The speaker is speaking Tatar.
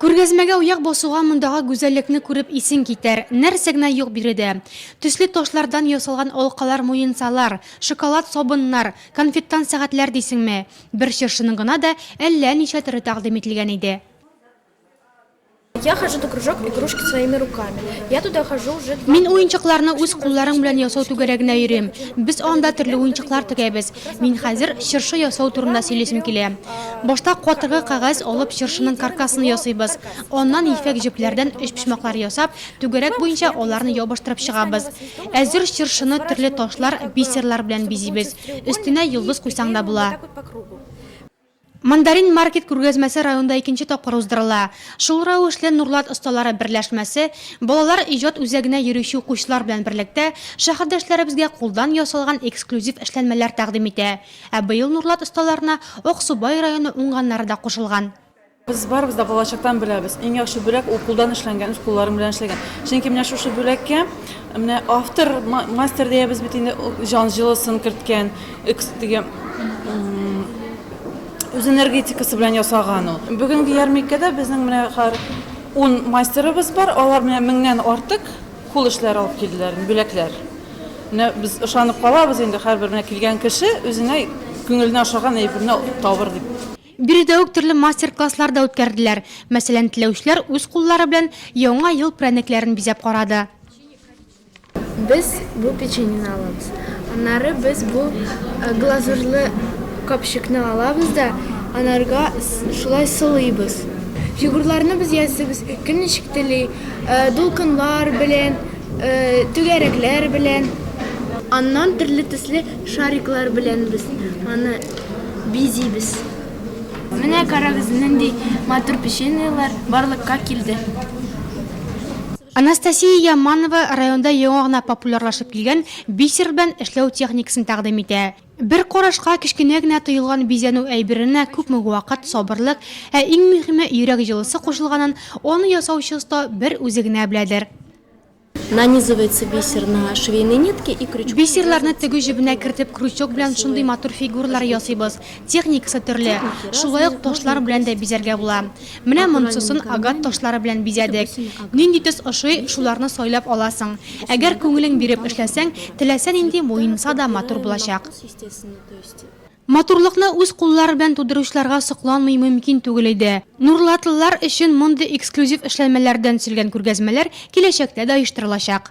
Күргәзмәгә уяк басуга мондагы гүзәллекне күреп исең китәр. Нәрсә генә юк биредә! Төсле ташлардан ясалган алкалар-муенсалар, шоколад сабыннар, конфеттан сәгатьләр дисеңме! Бер чыршының гына да әллә ничә төре тәкъдим ителгән иде. Я хожу до кружок игрушки своими руками, я туда хожу уже два. Мин уенчыкларны үз кулларың белән ясау түгәрәгенә йөрим. Без анда төрле уенчыклар тегәбез. Мин хәзер чыршы ясау турында сөйлисем килә. Башта катыргы кәгазь алып чыршының каркасын ясыйбыз. Аннан ефәк җепләрдән өчпочмаклар ясап, түгәрәк буенча аларны ябыштырып чыгабыз. Әзер чыршыны төрле ташлар, бисерлар белән бизибез. Өстенә йолдыз куйсаң да була. Мандарин маркет күргәзмәсе районда икенче тапкыр уздырыла. Шул рәвешле Нурлат осталары берләшмәсе, балалар иҗат үзәгенә йөрүче укучылар белән берлектә, шәһәрдәшләребезгә кулдан ясалган эксклюзив эшләнмәләр тәкъдим итә. Ә быел Нурлат осталарына Аксубай районы уңганнары да кушылган. Без барыбыз да балачактан беләбез, иң яхшы бүләк ул кулдан эшләнгән, үз кулларың белән эшләгән. Чөнки менә шушы бүләккә менә автор, мастер диябез бит инде, җан җылысын керткән. Экс теге үз энергетикасы белән ясаган ул. Бүгенге ярминкәдә безнең менә хәр 10 мастерыбыз бар, алар менә меңнән артык кул эшләре алып килделәр, бүләкләр. Менә без ышанып калабыз инде, һәрбер менә килгән кеше үзенә күңеленә ошаган әйберне табыр дип. Биредә үк төрле мастер-класслар да үткәрделәр. Мәсәлән, теләүчеләр үз куллары белән Яңа ел прәнекләрен бизәп карады. Без бу печеньене алабыз. Аннары без бу глазурлы капчыкны алабыз да анарга шулай сылыйбыз. Фигурларны без ясыйбыз кем ничек тели, дулкыннар белән, түгәрәкләр белән. Аннан төрле төсле шариклар белән без аны бизибез. Менә карагыз, нинди матур печеньелар барлыкка килде. Анастасия Яманова районда яңа гына популярлашып килгән бисер белән эшләү техникасын тәкъдим итә. Бер карашка кечкенә генә тоелган бизәнү әйберенә күпме вакыт, сабырлык, ә иң мөһиме, йөрәк җылысы кушылганын аны ясаучы оста бер үзе генә беләдер. Нанизывается бисер на швейные нитки и крючком. Бисерларны тегү җебенә кертеп, крючок белән шундый матур фигуралар ясыйбыз. Техникасы төрле. Шулай ук ташлар белән дә бизәргә була. Менә монсысын агат ташлары белән бизәдек. Нинди төс ошый, шуларны сайлап аласың. Әгәр күңелең биреп эшләсәң, теләсә нинди муенса да матур булачак. Матурлыкны үз куллары белән тудыручыларга сокланмый мөмкин түгел иде. Нурлатлылар өчен мондый эксклюзив эшләнмәләрдән төзелгән күргәзмәләр киләчәктә дә оештырылачак.